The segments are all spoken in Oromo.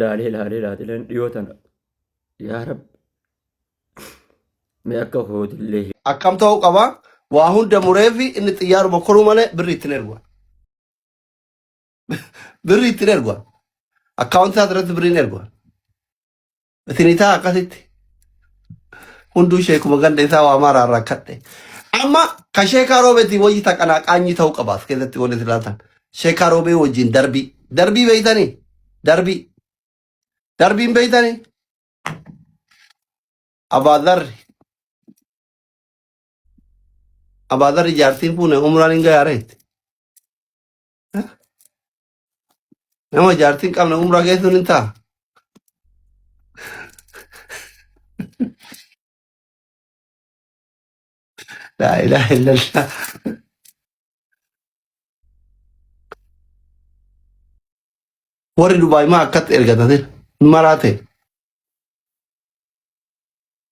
laalee laalee laatileen dhiyoo tana yaa rabbi mee akka kootillee akkam ta'uu qaba waa hunda muree fi inni xiyyaaruma koruu malee birrii ittiin ergu birrii ittiin ergu akkaawuntii isaa irratti birriin ergu Sinitaa akkasitti hunduu sheekuma ganda isaa waa maaraa rakkadhe. Amma ka sheekaa roobeetiin wayyi taqanaa qaanyii ta'uu qaba as keessatti wanti isin ilaaltan. Sheekaa roobee wajjin darbii. Darbii beeytanii? Darbii. Darbiin beeytanii? Abaadarri. Abaadarri jaartiin fuune umraan hin gayaareetti. Nama jaartiin qabna umraa keessan hin ta'a. Laa ilaaha illallah. Warri Dubaay maa akkatti ergatate maraate.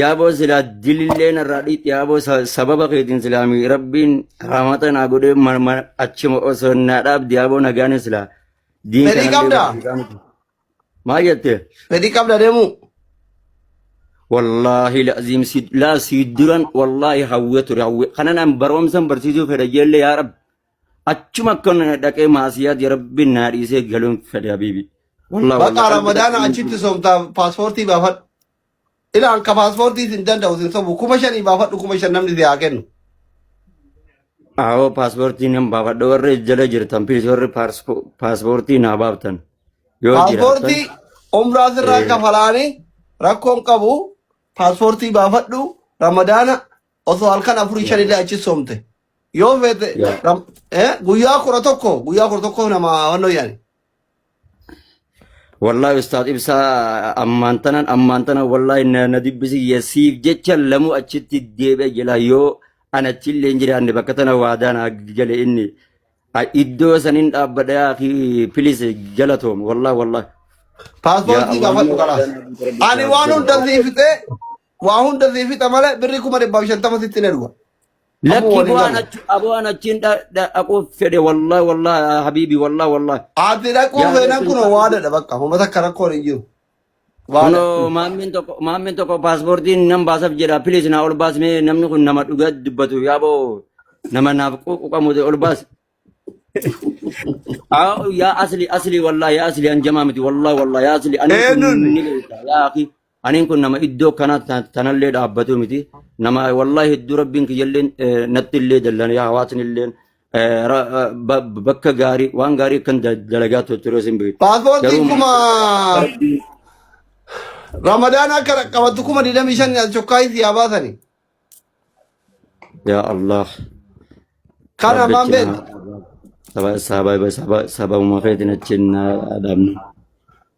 Yaaboo silaa dilillee narraa dhiitti yaaboo sa- sababa keetiin silaa mi rabbiin raamata naa godhee ma- ma- achuma osoo naa dhaabdi yaaboo nagaan silaa diin Fedhii kanallee qabdaa? barsiisaa miti. Maal jette? Fedhii qabda deemuu. Wallaahi laaziim si laa si duran wallaahi hawwee ture hawwee kanan an barumsan barsiisuu fedha jeellee yaa rabbi achuma akka na dhaqee maasiyaat yaa rabbi naa dhiisee galuun fedha habiibi. Wallaahi Baqa wallaahi. Ramadaana achitti soomtaa paaspoortii baafadhu. Ila anka paaspoortii sin danda'u sin sobu kuma shanii baafadhu kuma shan namni si haa kennu. Aawoo paaspoortii nan baafadha warri jala jirtan pilis warri paarspo- paaspoortii naa baaftan yoo jiraattan Paaspoortii umraa sirraa ee, kafalaanii rakkoon qabu paaspoortii baafadhu ramadaana osoo halkan afurii yaa shanillee achi soomte. Yoo feete yaa ram- eh, guyyaa kudha tokko guyyaa kudha tokko nama wannoo yaani. Wallaahi ustaad ibsaa ammaan tanan ammaan tanan wallaahi na na dubbisi yasiif jecha lamuu achitti deebi'a jela yoo an achi illee hin jiraanne bakka tana waadaa naa gale inni A- iddoo sanin dhaabbadha yaa fi pilis galatoom wallaahi wallaahi yaa Paaspoortii Allah gaafadhu yoo waadaa kanaaf. naa gale Ani waan hunda siif fixee Waa hunda sii fixa malee birrii kuma dhibbaaf shantama sitti hin ergu. Amma Lakki waliin bu'aan galu. achi aboo an achiin dha- dha- dhaquuf fedhe wallahi wallahi habiibi wallahi wallahi. Ati dhaquu Yaa feenan kun Rabbi. waadadha bakka. Uummata akka rakkoon hin jiru. Waada. Kunoo maammiin tokko maammiin tokko paaspoortiin nan baasaf jedha piliis naa ol baasmee namni kun nama dhugaa dubbatu yaaboo nama naaf quuqamu ol baas. Aa, Yaa asli asli wallahi yaa asli an jamaa miti wallahi wallahi yaa asli ani kun Eenyuun? ni beekta yaa akhi Aniin kun nama iddoo kana ta- tanallee dhaabbatu miti. Nama wallahi hedduu rabbiin kiyyalleen eh, natti illee dallane yaa hawaasni illeen eh, ra- eh, ba- bakka gaarii waan gaarii akkan da- dalagaa tu- ture sin beeku. Paaspoortiin Garuu kuma rabbiin Ramadaan akka qabattu kuma 25 as chokkaayii si haa baasani. yaa Allah Kana rabbi maan achi beekta? na saba saba saba sababuma keetiin achi na dhaabna.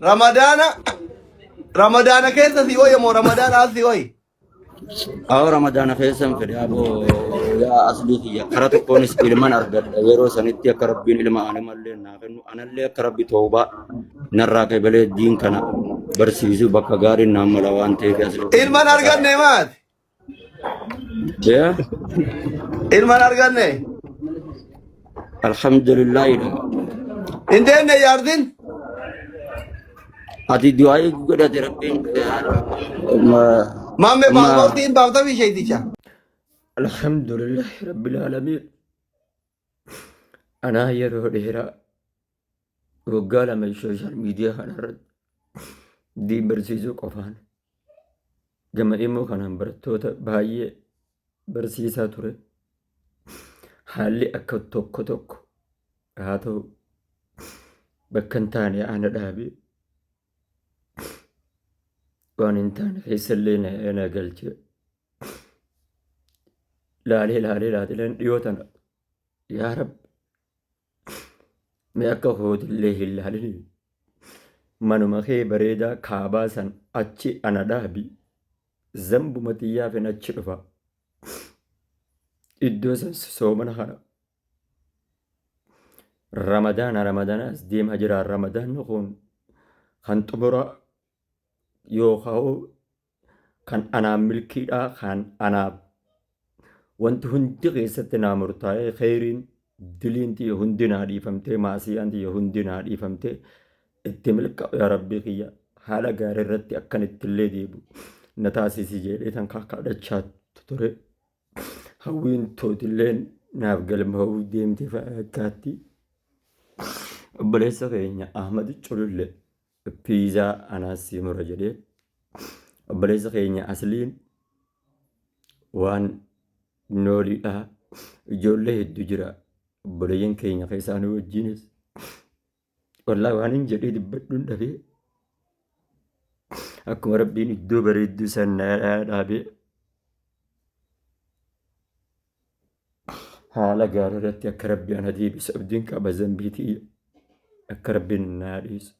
Ramadaana Ramadaana keessa si hoye moo Ramadaana as si hoye? Awo Ramadaana keessa hin fedhe aboo yaa aslii kiyya kara tokkoonis ilman argadha yeroo sanitti akka rabbiin ilma animallee naa kennu anallee akka rabbi toobaa narraa kebelee diin kana barsiisu bakka gaariin naan mala waan ta'eef aslii. Ilman arganne maati? Ya, Ilman arganne. alhamdulillah ila. Hin deemne yaardin. Ati du'a eegu godhate rabbiin ma Maamme ma paaspoortii hin baafta bisheeticha. alhamdulillah rabbil alamin. Anaa yeroo dheeraa waggaa lama sooshaal miidiyaa kanarratti diin barsiisuu qofaan gama immoo kanaan barattoota baay'ee barsiisaa ture. Haalli akka tokko tokko haa ta'u bakka hin taane ana dhaabe waan hin taane keessallee na na galche. laalee laalee laatileen dhiyoo tana yaa rabbi mee akka kootillee hin laalini manuma kee bareedaa kaabaa san achi ana dhaabi zambuma xiyyaafin achi dhufa iddoo san soomana kana ramadaana ramadaanaas deemaa jira ramadaanni kun kan xumuraa yookaan kan anaan milkiidhaa kan anaaf wanti hundi keessatti naa murtaa'ee kheyriin diliin tiyya hundi naa dhiifamtee maasiyaan tiyya hundi naa dhiifamtee itti milkaa'u yaa rabbii kiyya haala gaarii irratti akkan ittillee deebi'u na taasisi jedhee tan kakadhachaa ture hawwiin tootillee naaf galmaa'uu deemte fakkaatti obboleessa keenya Ahmad Culullee Pizza anaas sii mura jedhee obboleessa keenya asliin waan nooliidha ijoollee hedduu jira obboleeyyan keenya keessaa nu wajjiinis wallaa waan hin jedhee dubbadhuun dhabee akkuma rabbiin iddoo bareedduu san na dhaabee Haala gaari irratti akka rabbi ana deebisa abdiin qaba zambii tiyya akka rabbiin naa dhiisa.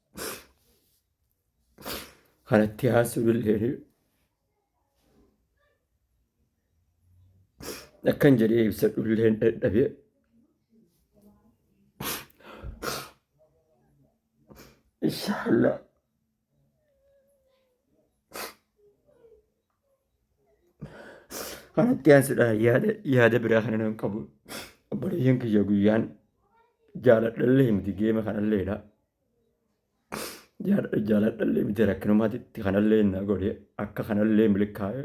Kanatti haasuu illee akkan jedhee ibsadhu illee dadhabee inshallah Kanatti aansuudhaan yaada yaada biraa kana nan qabu. Obboleeyyan kiyya guyyaan jaaladhallee miti geema kanalleedha. Jaal- Jaaladhallee miti rakkinumaatitti kanallee na godhe akka kanallee milkaa'e.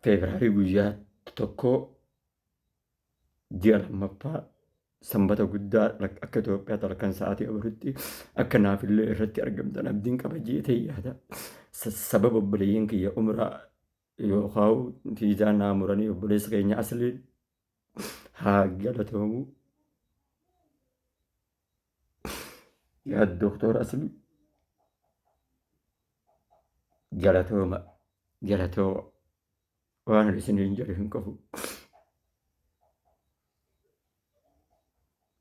Feebiraarii guyyaa tokkoo ji'a lammaffaa Sanbata guddaa akka Itoophiyaatti halkan sa'aatii afuritti akka naafillee irratti argamtan abdiin qaba jeetee yaada. Sababa obboleeyyan kiyya umraa yookaan fiizaa naa muranii obboleessa keenya asliin haa galatoomu. Yaa Dooktor Aslii galatooma galatooma. waan isiniin jedhu hin qabu.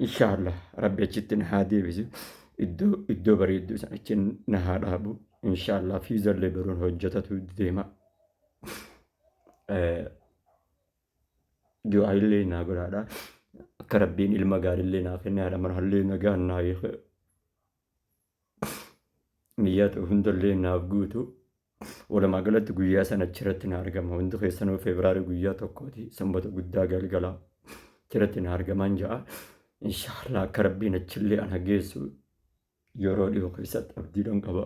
Inshaallah rabbi achitti na haa deebisu. Iddoo iddoo bareedduu sana achi na haa dhaabu. Inshaallah fiizallee baruun hojjetatu deema. Du'aa illee naa godhaadha. Akka rabbiin ilma gaarillee naa kenne haadha manaallee nagaan naa hiike. niyyaa ta'u hundallee naaf guutu walumaa galatti guyyaa sana achirratti na argama hundi keessanuu feebiraarii guyyaa tokkooti sanbata guddaa galgalaa achirratti na argamaan ja'a inshaallah akka rabbiin achillee ana geessu yeroo dhiyoo keessatti abdiidhan qaba.